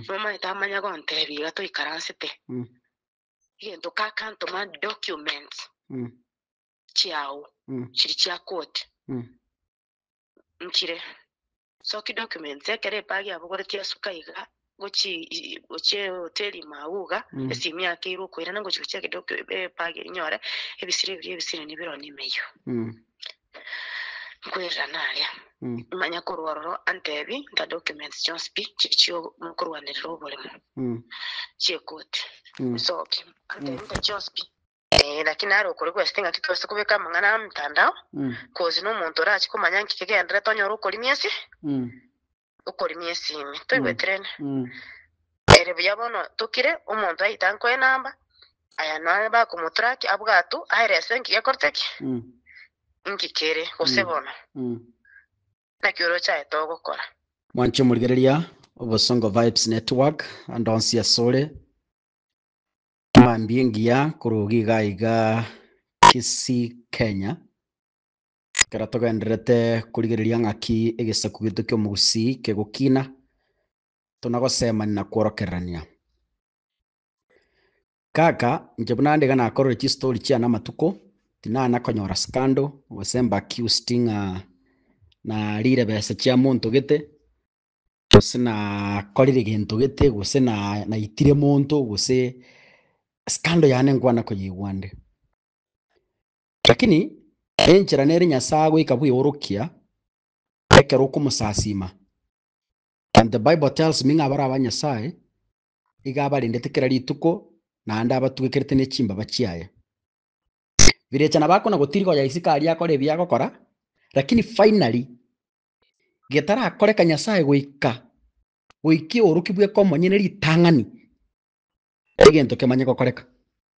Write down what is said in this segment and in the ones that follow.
Nomaete amanya gontebia iga toikaransete, egento kakantoma documents chiao chiri chia koti nchire. So ki documents ekero ebag yabogoretwe yasuka iga gochii gochia ehoteli ime agwo iga, esimi yakeirwe okoirana ngochia gochia egedoc ebag enyore ebisire biria ebisire nibiroo nimeyo. nkwererana aria. Mm. Manya korwa ororo antebi nta documents chionsi pi chiria chiokorwanerera oboremo Mm. chiekoti Mm. nsoki antebi Mm. nta chionsi pi Eh, lakini nare okore gwesete ng'aki twase kobeka amang'ana aa mtandao Mm. kozi nomonto orachi komanya nki kegenderete onyore okorimia ase Mm. okorimia esimi. Toigweterene. Ere buya bono tokire, omonto aitankwe enamba, aya nonye bakomotrack abwatwe aere ase enki gekorete ki? Inki kere, gose bono naki orochaete ogokora. Mwanche omorigereria, Obosongo Vibes Network, ande onsi ase ore, mambia engiya korwa ogo iga iga Kisii Kenya. Ekero togendererete korigereria ng'aki egesaku gito ki'omogusii kegokina, tona gosemani na kworokererania. Kaka, inche buna ande iga nakorire chistori chiane amatuko, tinana konyora scandal, gose mb'accused ng'a narire besa chia monto gete, gose nakorire gento gete, gose na naitire monto, gose scandal yane nkwana koyeigwa ande. Lakini enchera nere Nyasae agoika bweorokia ekero okomosasiima. And the bible tells me ng'a abare aba Nyasae iga abarendete kera rituko naende abatugekerete ne chimbaba chiaye. Birecha nabo akona gotiriga oya isiko aria akore ebi agokora, lakini finally getarakoreka Nyasae goika goika eoroki bweka omonyene ritang'ani egento kemanye gokoreka.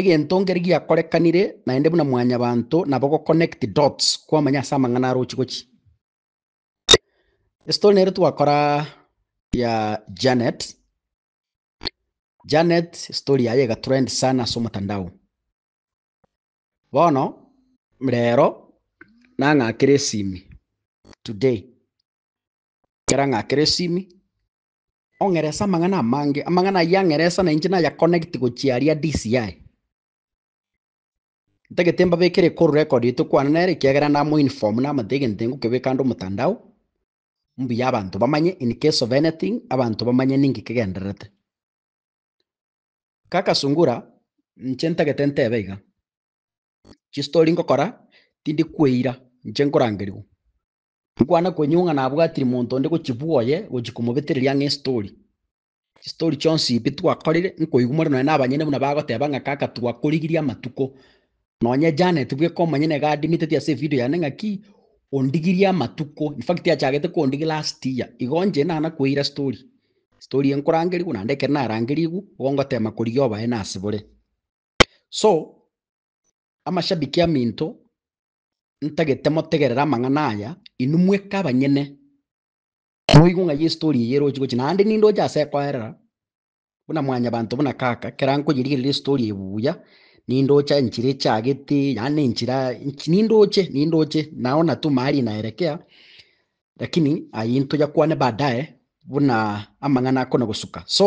Egento nkeri giakorekanire naende buna mwanyabanto nabo go connect dots kwamanya ase amang'ana arochi gochi. Estory nere twakora ya Janet. Janet story yaye egatrend sana ase omotandao. Bono rero nang'akera esimi today. Ekero ang'akera esimi Ong'erese amang'ana amange. Amang'ana ayio ang'eresa na inche naya connect gochia aria DCI. Ntagete mbabekere call record eye tokwana nere ekiagera namo inform namate egento eye ngokebeka ande omotandao, mbuya abanto bamanye in case of anything abanto bamanye ninki kegendererete. Kaka Sungura, inche ntagete ntebe iga, chistory ngokora tindi kweira, inche nkorangerigwa. Nkwane kwenywe ng'a nabwatiri monto onde gochibua oye gochia komobetereria ang'e estori. Chistori chionsi ebi twakorire, nkoigwa more nonya nabanyene buna bagoteba ng'a kaka twakorigirie amatuko. Nonya Janet bweka omonyene iga adimiteti ase evideo yane ng'aki, ondigirie amatuko. In fact achagete kondigia last year. Igo inche nana kweira story. Story eye nkorangerigwe naende ekero narangerigwe, igo ngotema korigia obaene asebore. So, amashabiki aminto, Ntagete motegerere amang'ana aya, inwe mweka abanyene. Moigwe ng'a Yeso torie eye eroche gochia, naende ninde oche ase ekoerera, buna mwanyabanto buna Kaka, ekero ankonyerigereria ase torie eye buya, ninde oche enchera echagete, yaani na enchera ench- ninde oche, ninde oche, nao natuma aria naerekea, lakini ayio ntoyakwane baadaye buna amang'ana akona gosuka. So,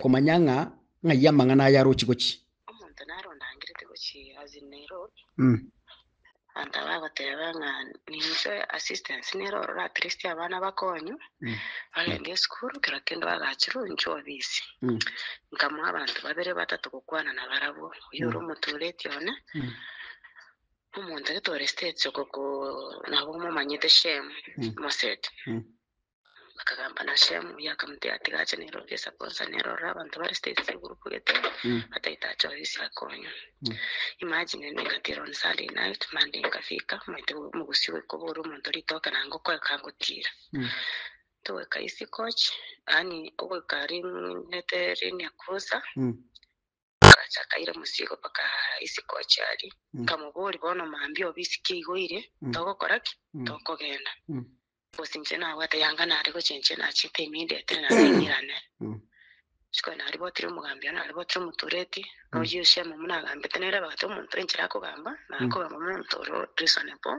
Komanya ng'a ng'ai amang'ana aya arochi gochia. Omonto nare ondangerete gochia ase Nero, antabe agoteba ng'a ninche assistance nere ororo at least abana bakonywe bagende esukuru kera kende bagachirwe inche obisi. Nkamoa abanto babere batato gokwana nabarabwo, oyio ore omotureti one, omonto getore States oko ko nabo momanyete Shem, Moset. Bakagamba na Shemu, oyio akamoteebia, ati, Gacha nere orie esaku onsa nere orore abanto bare state ase egroup gete, bataete ache oyo ase akonywa. Imagine ende nkatiira on Sunday night, Monday nkafika, omanyete omogusii goika obore omonto ritoke naende ngoka oyo kangotiira. Togoika East Coach, yaani ogoika ring'ete rinia closer, Akacha akaira mosigo mpaka isiko achiarie. Nkamoboria, Bono mambia obe isiko igo ire, togokora ki? Tokogenda? Gose inche nabwate yanga nare gocha inche nachete ime indetire naende ing'irane. Rituko naribwatire omogambi oo naribwatire omotureti, noyio Shemu buna agambete nere abwate omonto enchera akogamba, nare kogamba omonto ore o reasonable.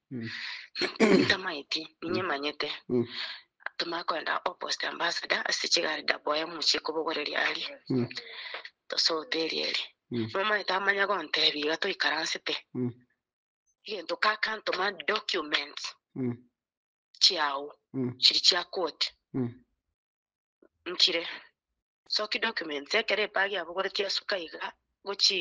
Ntamaeti, ninye manyete. Tomanye korenda opposite ambassador ase chigari ndaboye muchie kobogoreria aria. Tosote eria eria. Nomanyete amanya gontebi iga toikaransete. Egento kakantoma documents chiao chiri chia court nkire. Soki documents ekero epaga yabogoretie asuka iga gochi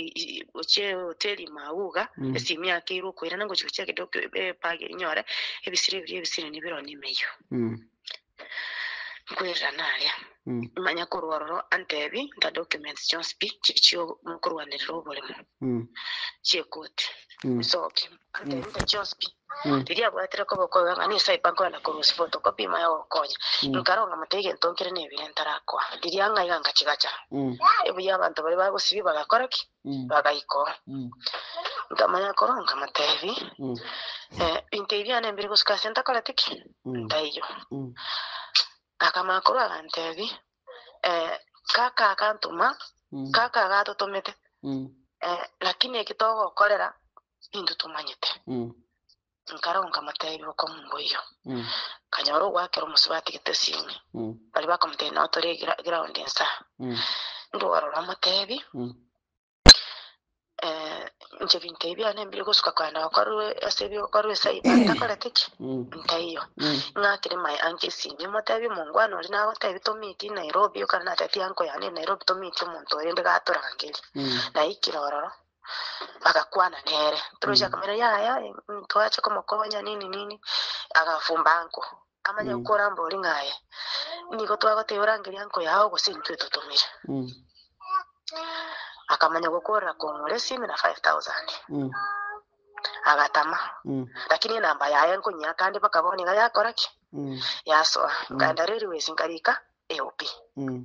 gochia eoteri mauga Mm. ase emiaka ekeire okoirana ngochi gochia ege doc- e- epaga inyore ebisire ebiria ebisire nibiro nimeyo Mm. nkoirana aria Mm. manya korwa ororo antebi nta documents chionsi pi chichia ogo- mokorwanerera oboremo Mm. chiekoti Mm. soki Ante nte chionsi pi, riria abwatire koba okoiga ng'a ninsae pa nkorenda korusia photocopy ime ayogokonya, nkaronga moto egento nkere nebire ntarakoa. Riria ng'aiga ngachigacha. Ebuya abanto baria bagosibia bagakora ki? Bagaika oo. Nkamanya korwa nkamoteebia, eh, binto ebi biane mbire gosuka ase ntakoreti ki? Ntaiyo. Akamanya korwa aganteebia, eh, kaka agantoma, kaka agatotomete, eh, lakini eki togokorera nintwe tomanyete. Nkaragwa nkamoteebia okomu mboiyo. Nkanyora ogoakera omosubati getesini. Baria bakamoteebia nao tore egraondi ensa. Ndwora ororo amoteebi, inche ebinto ebi biane mbire gosuka kogenda gokorwa ase ebio gokorwa esaa ime ntakorete ki? Ntaiyo. Ing'akire my uncle esimi emoteebia omongwana oria nagoteebia tomeetie Nairobi, ekero natebitie uncle yane Nairobi tomeetie omonto oyo rende gatorangerie. Naikire ororo. bagakwana nere, Toroche Mm. ekamera yaya, mm, twache komokonya nini nini, agafumba anko. Amanye Mm. gokora mbori ng'aye, nigo twagoteba orangerie anko yao gose intwe totomire. Mm. Akamanya gokorera kong'ora esimi na 5000. Mm. Agatama. Mm. Lakini enamba yaye nkonyia kandi mpaka bono iga yakora ki? Mm. Yasoa. Mm. Nkaenda reri wesi nkarika AOP. Mm.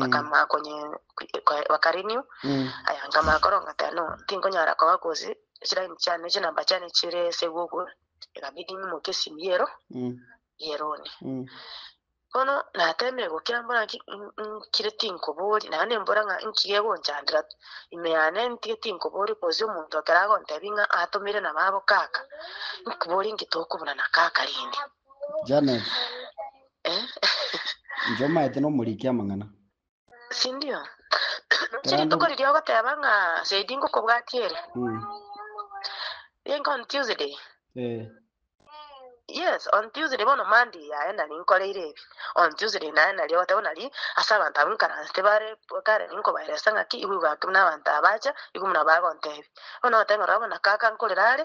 Bakamanya konyee, bakarenew aya nkamanya koronga tea no tinkonyara koba gose chiraini chiane chinamba chiane chire ase Google, ekabidi nyimoke esimu yero yeroni. Bono natemire gokira mbore ng'aki nkire tinkoboria, naye nembora ng'a nki gegonchandera ime yane ntige tinkoboria gose omonto ekero agontebia ng'a atomire na babo kaka, nkoborie nki tokobuna na kaka rende. Janet. Inche omaete nomoriki amang'ana. Sindio? Chiri rituko riria ogoteba ng'a saidi ngokobwatia ere. Mm. Think on Tuesday. Eh. Yes, on Tuesday bono Monday yaye nari nkoreire ebi. On Tuesday naye nari ogoteba nari ase abanto abwo nkaransete bare kare ninkobaeresa ng'a ki igwe igwake buna abanto abacha igwe buna bagontebi. Bono ogoteba ng'a rora bono kaka nkorere are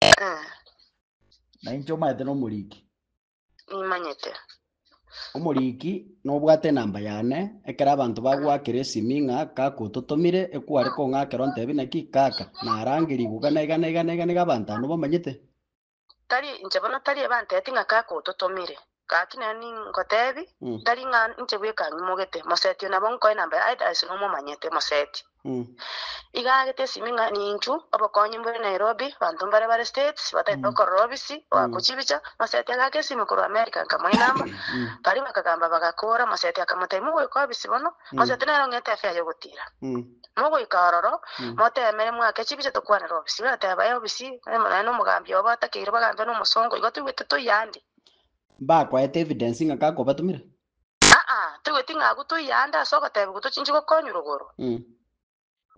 Eh, Na inche omanyete nomoriki. nimanyete. Omoriki nobwate enamba yane, ekero abanto bagoakera esimi ng'a kaka ototomire, ekware kong'akera ontebi naki, kaka, narangerie iga na iga na iga na iga na iga abanto aa nobamanyete. Tari inche bono tari ebanteti ng'a kaka ototomire. Gaki nere ningotebi, tari ng'a inche bweka ng'imogete, moseti oyo nabo nkoe nambere aye Darius nomomanyete, moseti. Iga agete esimi ng'a ninchu obokonyi mbore Nairobi, banto mbare bare States bataete okorora obisi oako chibicha. Moseti agaaka esimi korwa America nkamoa enamba, baria bakagamba bagakoora, moseti akamotebia, Mogoika obisi bono, moseti nere ong'ete efea y'ogotiira. Mogoika ororo, moteemere moake chibicha tokwanere obisi. Bagateba, Ee obisi, nere nomogambia obo atakeirwe bagambia nomosongo, igo toigwete toiya ande. Mbakoete evidence ng'a kakobatumire? Aa, toigweti ng'a agwo toiye aande ase ogoteebiwa tochinchi gokonywa rogoro? Mm.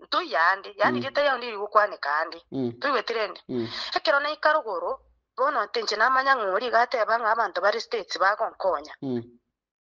Ntoiye aande, yaani Mm. rieta riao niriri gokwaneka aande. Mm. Toigweti rende? Mm. Ekero naika rogoro, bono tinche namanya ng'a oria iga ateeba ng'a abanto bare States bagonkonya. Mm.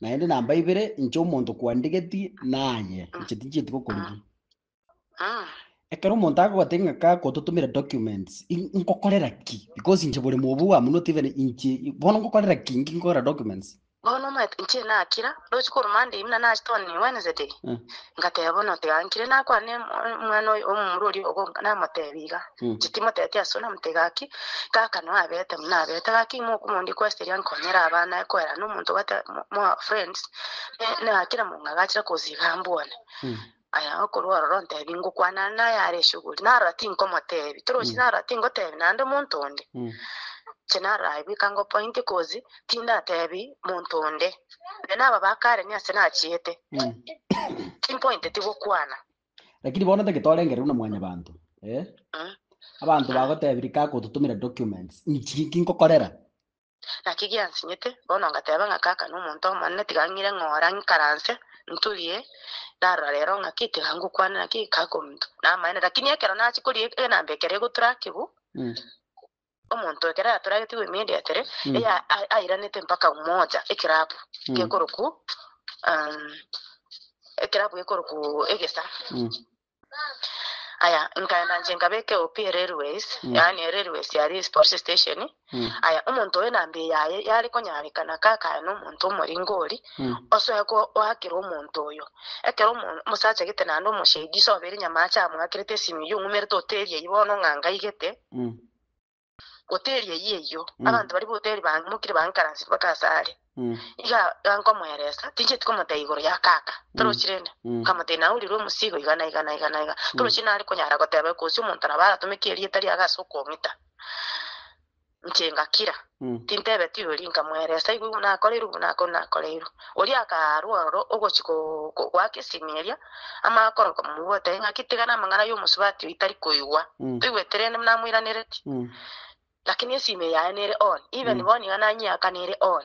Naende namba ibere inche omonto kwandigeti naye, inche tinchieti gokorigia. Ekero omonto agogote ng'aka gototomera documents, in- nkokorera ki? Because inche bore mobu bwamonoti even inche bono nkokorera ki? Inki nkokorera documents? bono omanyete inche nakira roche korwa monday buna nasi toni wednesday Eh. Ngateba, Bono otegankire nakwane omwana oyo omomura oria ogo, namotebie iga, inche timoteti ase onamote gaki, kaka no abete buna abete, gaki mokomondia kwesiria nkonyere abana aye koerana nomonto obwate moa friends, ne na kera monga agachire koza iga ambwane. Aya okorwa ororo ntebie ngokwanana naye are eshuguri, narora tinkomotebia, torochi narora tingotebia naende omonto onde, inche narora aye bweka ngopointie kozi Tindatebi monto onde, na naba ba kare niase nachiete, timpointeti gokwana. Lakini bono tiki torengereirwe na Mwanyabaanto, ee, abanto bagotebia rika agototomera documents, inchi inki nkokorera? Naki giansinyete, bono ngateba ng'a kaka nomonto omonene, tiga ng'ire ng'ora, ng'ikaranse, nturie, narora rero ng'aki, tiga ngokwane naki, kaka omonto namaene. Lakini ekero nachia koria egenamba ekero egotura akigwa, omonto ekero yatoragetigwe emeri ya tere, Mm. eya a- airanete mpaka Umoja, ekerabu Mm. gekoroku um, ekerabu gekoroku egesa Mm. aya nkaenda nche nkabeke opi erailways Mm. yaani erailways yari sports station Mm. aya omonto oyo nambe yaye yari konyarekana kakaya nomonto omoringo ori Mm. osoe koakera omonto oyo ekero omo- omosacha gete naende omoshedi soberi nyamache amwakerete esimi eyio ong'umerete oteria ibono ng'a ngaigete Hoteli eyio eyio, abanto baria b'hoteli bamokire bang'ikaransire bake ase are. Iga iga nkomoeresa, tincheti komotebia igoro ya kaka, torochi rende. Nkamotebia naye orirwe omosigo iga na iga na iga na iga. Torochi nare konyara goteba, gose omonto nabo aratomeke erieta riago ase okong'ita. Inche ngakira. Tintebetigwe oria nkamweresa, Igwa igwe nakoreirwe obo na kore nakoreirwe. Oria akaarwa ororo ogochia goaka esimi eria, amakoro nkomomoboteria, Ng'aki tigana amang'ana y'omosubati oyo tari koigwa. Toigwete rende buna amoiranereti? Lakini esimi eye yaye nere on, even bono iga nanyeaka nere on.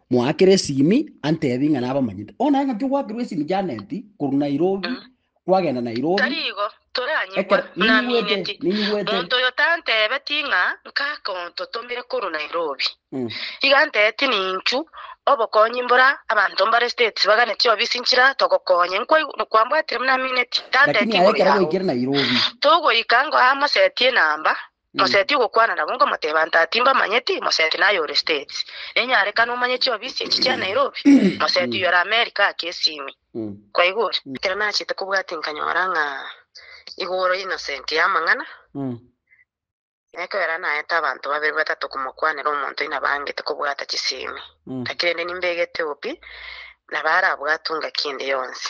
Moakere esimi antebi ng'a nabamanyete. O naye ng'aki ogwakerwa esimi Janeti korwa Nairobi Mm. kwagenda Nairobi Tari igo, toranyigwa, ekero ninyigwete namineti. ninyigwete Monto oyo tanteebeti ng'a nkakontotomire korwa Nairobi. Mm. Iga anteeti ninchu obokonyi mbora abanto mbare States bagane chiobisi nchira togokonye. Nkwaigu- Nkwambwatire buna namineti. Tanteeti lakini aye ekero ngoira agwo. gwaikire Nairobi Togoika ngoa mosetie enamba. Moseti ogokwana nabo nkomoteba nta timbamanyeti, Moseti naye ore States. Nenyarekana omanye chiobisi echi chia Nairobi. Moseti oyio ore America ake esimi. Kwaigure? Ekero nachete kobwati nkanyora ng'a igoro Innocent y'amang'ana, nekoera naete abanto babere batato komokwanera omonto oina bangete kobwata chisimi. Gaki rende nimbegete obi, nabo arabwatwe ngaki ende yonsi.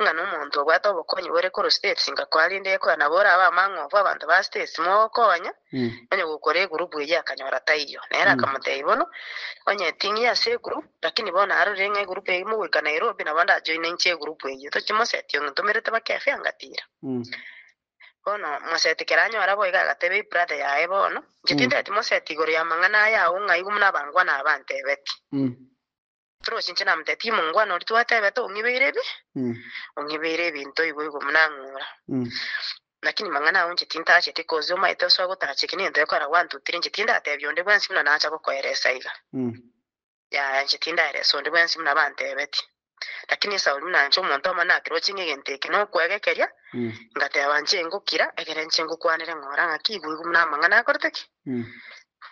ng'a nomonto obwate obokonyi bore korwa States ngakoa rende ekoya nabo ore abe amang'ofu abanto ba States mogokonya onye gokora egurupu eyio akanyora taiyo nere akamotebia bono onye eting'ie ase egurupu lakini bono arorire ng'a egurupu eyio mogoika Nairobi nabo ndajoine inche egurupu eyio tochi moseti ong'e ntomerete bake efe angatira bono moseti kera anyore abo iga agatebia hei brother yaye bono inche tindeti moseti igoro y'amang'ana aya agwo ng'a igo buna abangwana aba antebetie. Trosi, inche namotebirie, Timongwana oria twatebete ong'ibeire ebi, ong'ibeire ebinto igoigo buna ang'ura. Naki nimang'ana ao inche tintacheti, kosi omaete osoa gotacha eke negento gekora gwantutire, inche tindatebia onde bwensi buna nacha gokoeresa iga. Yaya, inche tindaeresa onde bwensi buna bantebeti. Lakini Esauli buna inche omonto amo nakiroche ng'a egento eke nokwegekeria, ngateba inche ingokira, ekero inche ngokwanire ng'a ore ng'ake igoigo buna amang'ana akorete ki?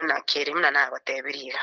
Buna kere buna nagotebirie iga.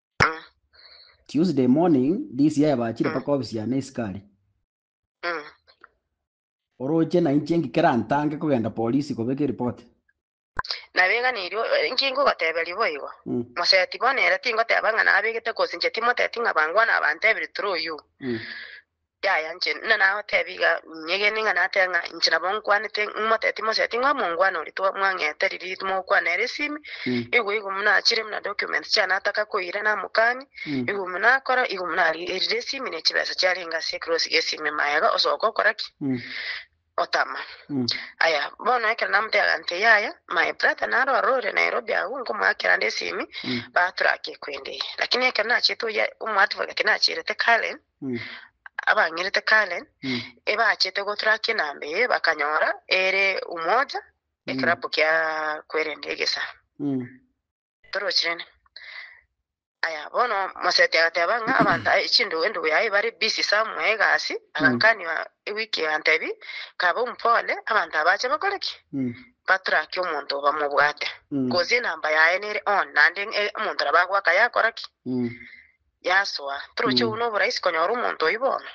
Mm. Tuesday morning this year bachire Mm. paka ofisi yane isikari. Mm. Oroche na inche ng'ikere antange kogenda polisi kobeka eripoti. Nabeganirie eh, nki ngogoteberia boigo. Mm. Moseti bono ere tingoteba ng'a nabegete gose inche timoteti ng'a bangwana abanto ebiri through you. Mm. Yaya inche ninagoteebie iga, nyegene ng'a natebe ng'a inche nabo nkwanete, ng'imote timoseti ng'a mongwana oria twamwang'ete riria timogokwana ere esimi, igwe igo buna achire buna documents chiane ataka koira namokani, igwe buna akora, igwe buna ari- erire esimi ne chibesa chiarenge ase ekrosi gie esimi, mayega, osoka okora ki? otama. Aya, bono ekero namotebirie agantee yaya, my brother naro arorire Nairobi agwo, nkomoakera ande esimi, batura ake ekwendeye. Lakini ekero nachete oyia omo advocate nacherete Karen, abang'erete Karen, ebachete gotura ake enamba eye bakanyora ere Umoja, ekerabu kia Kwerende Egesaa. Torochirane. Aya, bono Moseti agateba ng'a abanto aye chindugu endugu yaye bare busy somewhere egasi, agankania ewiki egantebi, Kabe ompore, abanto aba bache bakore ki? Batrake omonto bamobwate, gose enamba yaye nere on, naende e- omonto nabo agoaka yakora ki? Yasoa. Toroche obu noborahisi konyora omonto oyio bono.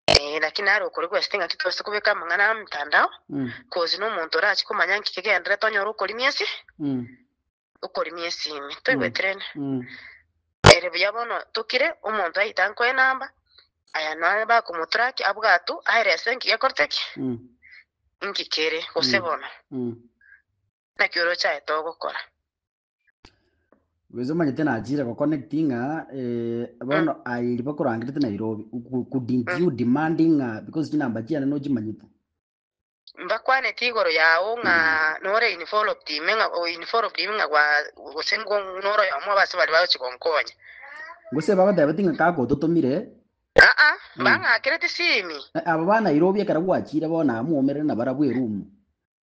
Eh, naki nare okore gwesete ng'aki twase kobeka amang'ana amtandao, Mm. kozi n'omonto orache komanya nki kegenderete onyore okorimia ase Mm. okorimia esimi. Toigweterene? Mm. Ere buya bono tokire, omonto aite ankoe enamba, aya nonye bakomotraki abwatu aelese nki gekorete ki, Mm. nki kere, gose Mm. bono, Mm. naki orochaete ogokora. Bwezi omanyete nachire goconnect ng'a eh, bono aye riba korangerete Nairobi Ku- couldn't Mm. you demanding ng'a because chinamba chiane nochimanyete mbakwaneti igoro yao ng'a nore involved ime ng'a o involved ime ng'a gwa gose ngo noro yomo base bari bagochi gonkonya gose bagotebeti ng'a kagototomire aa Mm. bang'akereti simi Eh, abo ba Nairobi ekero gwachire bono amwomerere na barabwo erumu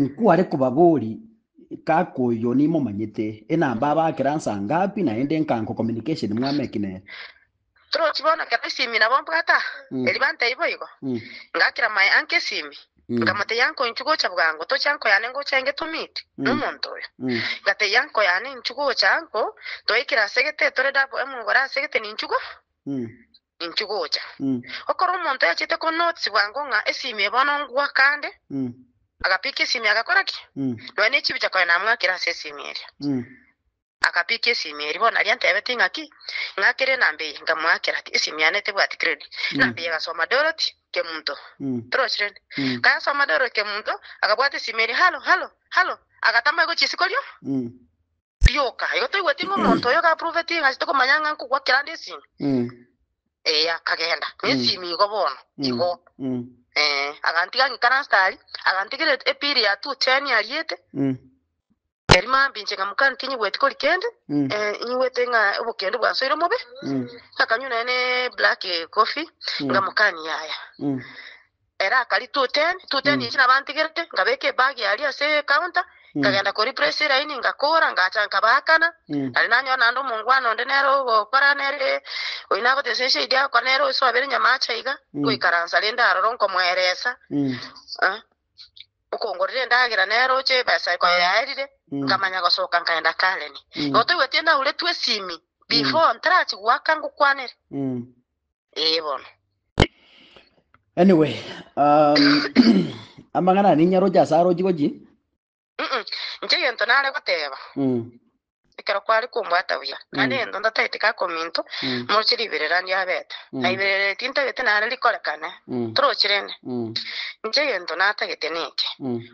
Nkware kobabori kaka oyo nimomanyete, enamba abakera nsa ngapi naende nkanko communication mwame eki nere. Torochi bono ekero esimi nabo mbwata, erio bantebia boigo. Ngakera my uncle esimi, nkamotebia uncle inchu gocha bwango toche uncle yane ngocha enge to meet nomonto oyo. Ngatebia uncle yane inchu gocha uncle, toikire asegete tore double emogore asegete ninchu go. Inki gocha gokora omonto oyachete ko notes bwango ng'a esimie bono ngwa kande agapikia esimie agakora ki? Nonya nechibicha konya namwakire ase esimie eria. Akapikia esimie eria bono aria antebetie ng'a ki? Ng'a kere enamba eye nkamwakera ki? Esimie yane tebwati credit. Enamba eye egasoma Dorothy Kemunto. Torochire ere? Kayasoma Dorothy Kemunto, agabwata esimie eria, Hallo, hallo, hallo. Agatama aigwe chisiko rio. Rioka, igo toigweti ng'a omonto oyo gaprovetie ng'a ase tokomanya ng'a nkogwa kerande esimi? Ee, akagenda nesimi igo bono igo. Ee, agantiga ng'ikare ase tari, agantigera epiri ya two cheni ariete. Erio mambia inche ng'amoka ng'a tinyigweti kori kende, ee, nyigwete ng'a obokende bwansoire omobe, ngakanywa nonya ne black coffee, ng'amoka ng'a yaya. Ere akaria tuteni, tuteni echi nabantigerete, ngabeka ebagi aria ase ecounter, nkagenda koreplace eraini, ngakora, ngacha nkabaakana. Nari nanyora naende omongwana onde nere ogokora nere, oyio nagotesa eshahidi agokora nere osoabere nyama acha iga, ngoikaransa rende aroro nkomoeresa, eh, okongorera endagera nere oche ebesa koyaerire, nkamanya gosoka nkagenda Karen. Igo toigweti naure tu esimi, before ntarachi goaka ngokwanere. Ee bono. Anyway, um, amang'ana ane inyaroche ase arochi gochi. Mm-mm. Inche egento nare goteba, Mm, ekero kware kombwata buya, naende Mm. egento ndatagete gaka ominto, mm, moroche riberera ndiabete. Mm. Naiberera eti ntagete nare rikorekane, mm, torochi rende. mm, Inche egento natagete neke, mm.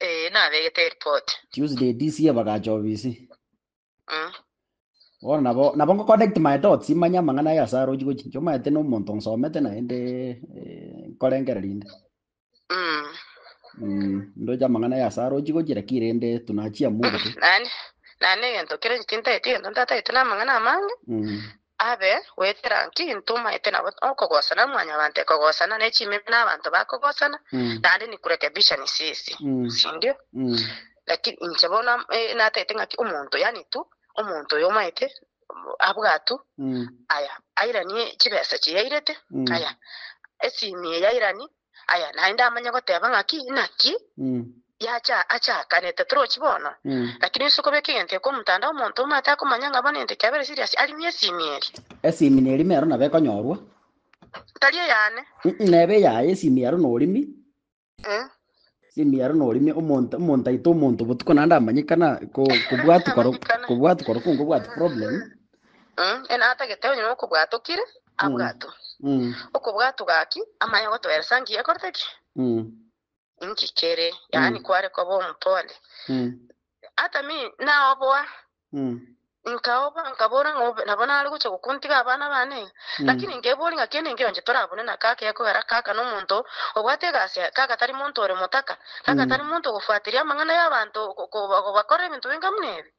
Ee, nabegete eripoti. Tuesday this year bagacha obisi. Mm. Bono nabo nabo ngo connect my dots manye amang'ana aya ase arochi gochi inche omanyete na omonto nsomete naende eh, nkorengereria inde. Mm. Mm, ndoche amang'ana aya ase arochi gochi lakini rende tunachia Mungu tu. Nani? Nani egento kere tintaeti egento ntatagete na amang'ana amange. Mm. Abe goetera ng'aki ntomaete nabo okogosana na mwanyabanto ekogosana ne chimeme na abanto bakogosana, naende nikurekebisha nisisi, sindio? Lakini inche bono natete ng'aki omonto yaani tu omonto oyo omaete abwatu aya airanie chibesa chiyairete aya esimi eyairani Aya naende amanye goteba ng'aki naki yacha achakanete torochi bono. Lakini ase okobeka egento eke omotanda omonto omate akomanya ng'a bono egento ekiabera serious arimie esimi eria. Esimi nerime ero nabo ekonyorwa. Tari eyane. Nebe eyaye esimi ero norimi. Nemiaro noreme omonto omontaito omonto botuko naende amanyeka na ko kobwatu koro kobwatu koro kungo bwatu problem Mm, ene atagete onye nokobwata okire mm abwato mm okobwatu gaki amanye gotoeresa nki yakorete ki mm nki kere yaani mm kware koba omopole mm atami naoboa Nkaoba, nkabora ng'a obe nabo nare gocha gokontiga abana bane. Lakini nkeboria ng'a kende enkio onche torabune na kaka ekogera kaka nomonto obwate egasi aye, kaka tari monto ore motaka, kaka tari monto ogofuateria amang'ana y'abanto bakora ebinto bing'amu nebi?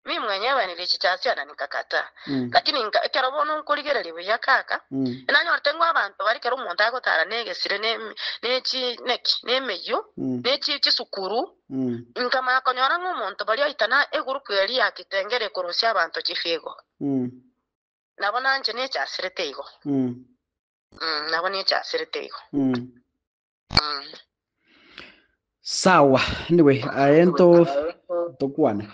Mimi mwenye ebanirie chichasia na nkakataa. Lakini nka, ekero bono nkorigereria buya kaka, enanyorete ng'a abanto bare kera omonto agotara negesire, ne, ne, ne chi, ne ki, ne emeyio, ne chi, chisukuru, Nkamanya konyora ng'a omonto baria oita na egurupu eria ya kitengela ekorusia abanto chifigo. Nabo nanche nechasirete igo. Nabo nechasirete igo. Sawa, anyway, aye nto tokwane.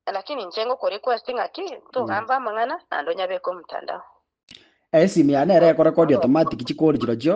Lakini inche ngokwa request ng'a ki, togambe amang'ana naende onyabeke omtandao. Esimu yane ere ekorekodia automatic chikori chirochio.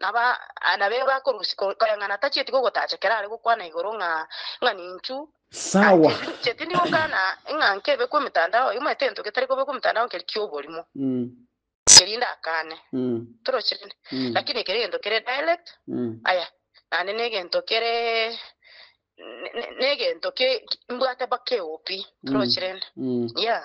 Abana be bakorusia koreng'ana tachieti gogotacha ekero are gokwana igoro ng'a ng'a ninchu. Sawa. Chieti ndi gokana ng'a nkebekwa emetandao oyomaete egento getari kobekwa emetandao nkeri ki'oborimo. Erinde akane. Toroche rende. Lakini ekero egento kere direct aya naende ne egento kere ne egento ki mbwate mpaka eopi. Toroche rende. Yeah.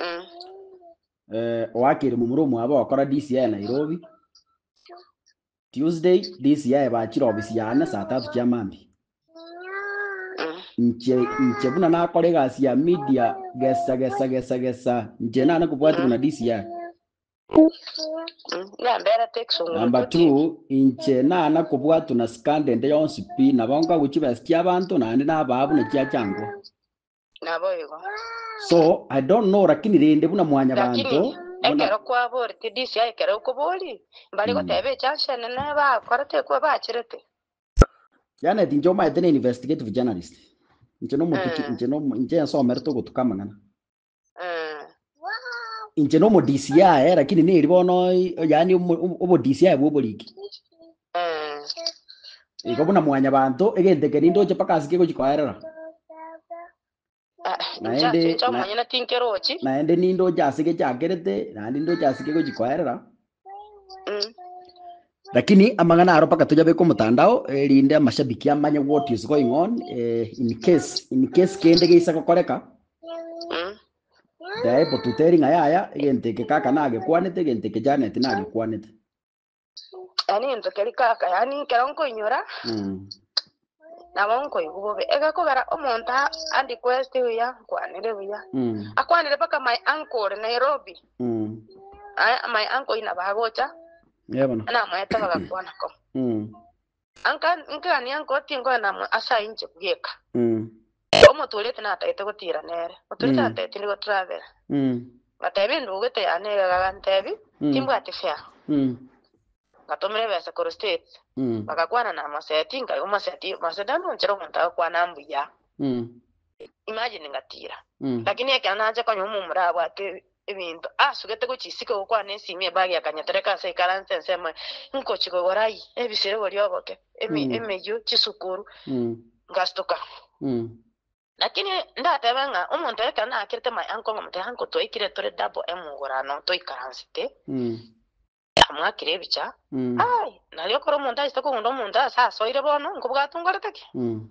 Mm. eh, oakire momura omwabo okora disi yaye nairobi tuesday disi yaye bachira obisi yane saa tatu chia mambi Mm. nche nche buna nakora egasi ya media gesa gesa gesa gesa nche nane kobwati buna disi yaye Mm. Yambera tekisunguru namba koti. two inche nana kobwatu na skandende yonsi pi nabo nkagochi besi chia abanto naende nabaa buna chia changwa Naboigo. So I don't know lakini rende buna mwanya Lakini banto buna ekero kwaboretie disi aye ekero okobori mbare Mm. goteba echanse enene bakorete ekwe bachirete. Janet inche omaete ne investigative journalist. Inche no motuki Eh. inche no inche ensomerete ogotuka amang'ana. Eh, Inche nomodisi yaye, lakini neri bono yaani obodisi yaye bwoboriki. Igo buna mwanya banto egento eke nindoche mpaka ase kegochi koerera. Naende naende nindoche ase gechakerete naende nindoche ase kegochi koerera. Lakini amang'ana aro mpaka toyabeke omotandao erinde amashabiki amanye what is going on eh, in case in case kende geisa gokoreka Daebo tuteri ng'a yaya, egento eke kaka nagekwanete, egento eke Janet nagekwanete. Yaani egento keria kaka, yaani ekero nkoinyora, Mm. nabo nkoigwa bobe. Egakogera omonto a- andi kweste buya, nkwanire buya. Mm. Akwanire mpaka my uncle ore Nairobi. Mm. Aye, my uncle ina bagocha, Yebono. namoete bagakwana ko. Mm. Nka- nkagania nko, Tinkoenda amo ase ayio inche bweka. Mm. Omotuorete natagete gotiira nere. Omotuorete Mm. antebia, Tindi gotravel. Mm. Ngatebia endogete yane ere agantebia, Mm. Timbwati fare. Mm. Ngatomera ebesa korwa States. Mm. Bagakwana namoseti, nkaigwa moseti, moseti anonchera omonto agakwana mbuya. Mm. imagine ngatiira. Mm. Lakini ekero nache konya omomura abwate ebi- ebinto asugete gochia isiko gokwana esimi ebag ya kanya tereka ase ikaranse ense emoe nkochi kogora ai ebisero boria oboke emi- Mm. emeyio chisukuru Mm. ngastuka Mm. lakini ndatebe ng'a omonto ekero nakerete my uncle ng'omotebia uncle twaikire tore double emogurano toikaransete Mm. amwakire ebicha Mm. ai nario ekero omonto achete kogunda omonto ase asoire bono nkobwatwe nkorete ki Mm.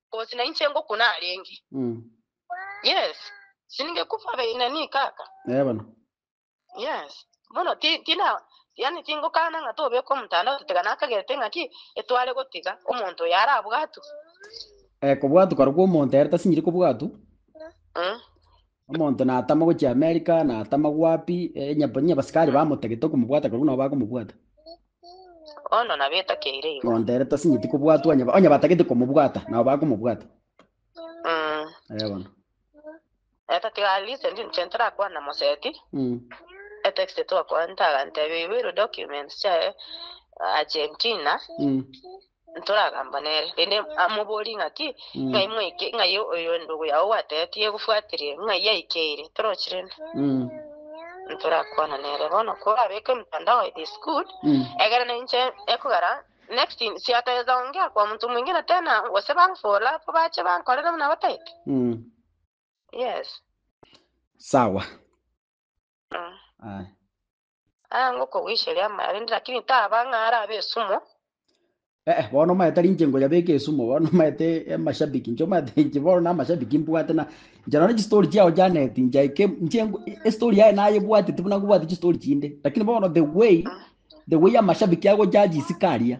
Cause nainche ngoku narenge. Mm. Yes. Sininge kufa be nani kaka. Eh bono. Yes. Bono ti tina yani tingokana ng'a tobeka omotandao totiga nakagerete ng'a ki etware gotiga omonto oyo arabwatu. Eh kobwatu korokwo omonto ere tasinyiri kobwatu. Mm. Omonto natama gochia Amerika, natama gwapi, eh, onye onye abasikari bamotagete okomobwata korwa buna abo bakomobwata. Bono nabwo etakeire igo. Monto ere tasinyeti kobwatwa onye ba- onye batagete komobwata, nabo bakomobwata. Mm. Eh, bono. Etatiga at least ndi inche ntarakwana moseti. Mm. Etext twakwana ntagantebia you will documents chae Argentina. Mm. ntoragamba nere, rende amoborie ng'aki, Ng'ai mwaike ng'ai oyo endugu yao gwateetie egofwatirie? Ng'ai aikeire? Torochi rende ntorakwane nere. Bono korabeke mtandao it is good, egerana inche ekogera next in siatagete ongea kwa omonto mwingine tena gose bang follow up bache bankorere buna bataete. Yes. Sawa. Aye. Aanga okogwisheria amaya rende, lakini taba ng'a arabe esumo. Eh, bono maya tari inche ngoyabeka esumo, bono maya te amashabiki, inche omanyete inche bono na amashabiki mbwate na inche nonye chistory chiao Janet, nchaike inche ngu- estory yaye nayebwatete buna ngobwate chistory chinde, lakini bono the way the way amashabiki agojaji isiko aria,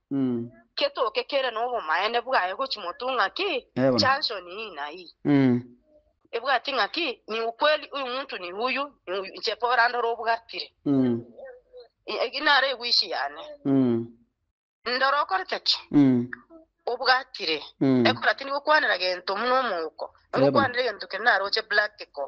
Ketoke kere nobomaene bwaye gochimotu ng'aki chanson ii na ii, ebwati ng'aki ni ukweli uyu muntu ni uyu, ni uyu, inche Paul ndore obwatire, egi naro eguichi yane. Ndore okorete ki? Obwatire. Ekora tindi gokwanera gento buna omouko, nigokwanera egento kende naroche practical.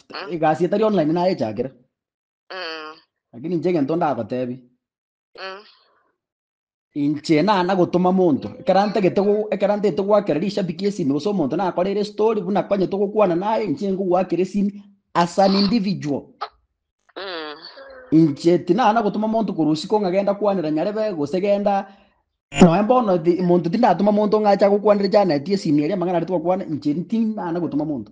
Mm. egasi etari online nayechakire Mm. lakini inche egento ndagotebi Mm. inche na nagotoma monto ekero ntagete go- ekero ntagete goakera rishabiki esimi gose omonto nakorere story buna konyete gokwana naye inche ngogoakera esimi as an individual Mm. inche tinana nagotoma monto korwa usiko ng'a genda kwanera nyarebe gose genda noe bono thi- monto tindatoma monto ng'a acha gokwanera janet esimi eria amang'ana aria twakwana inche tinana gotoma monto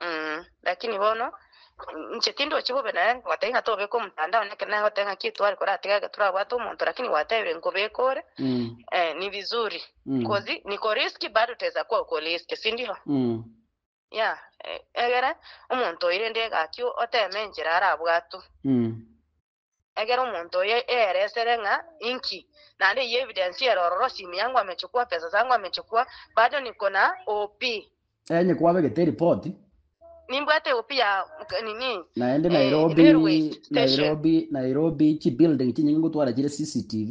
Mm, lakini bono mm, inche tindochi bobe naye ngoteba ng'a tobeka omotandao neke naye goteba ng'a ki tware kora tiga geturabwate omonto lakini gwatebire nkobeka ore Mm. eh, ni vizuri Mm. kozi nikoriski bado teza kwa ukoriski sindio Mm. ya eh, egere omonto oirende egaki oteme enchera arabwatu Mm. Egera omonto oyo eere esere ng'a inki, naende eye evidence ere ororo, simu yangu amechukua, pesa zangu amechukua, bado niko na OP. Enye kwabegete eripoti. Nimbwate OP ya nini, Naende eh, Nairobi, railway station. Nairobi, Nairobi, chibuilding chinyinge ngotwara chire CCTV.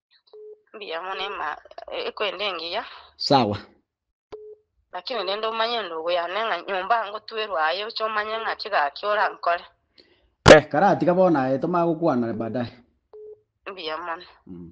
Mbuya mono ema ekwenda engiya. Sawa. Lakini rende omanye endugu yane ng'a nyomba ngotwerwa aye oche omanye ng'a chigaki orankore. Eh, karatiga bono aye tomanya gokwana baadaye. Mbuya mono. Mm.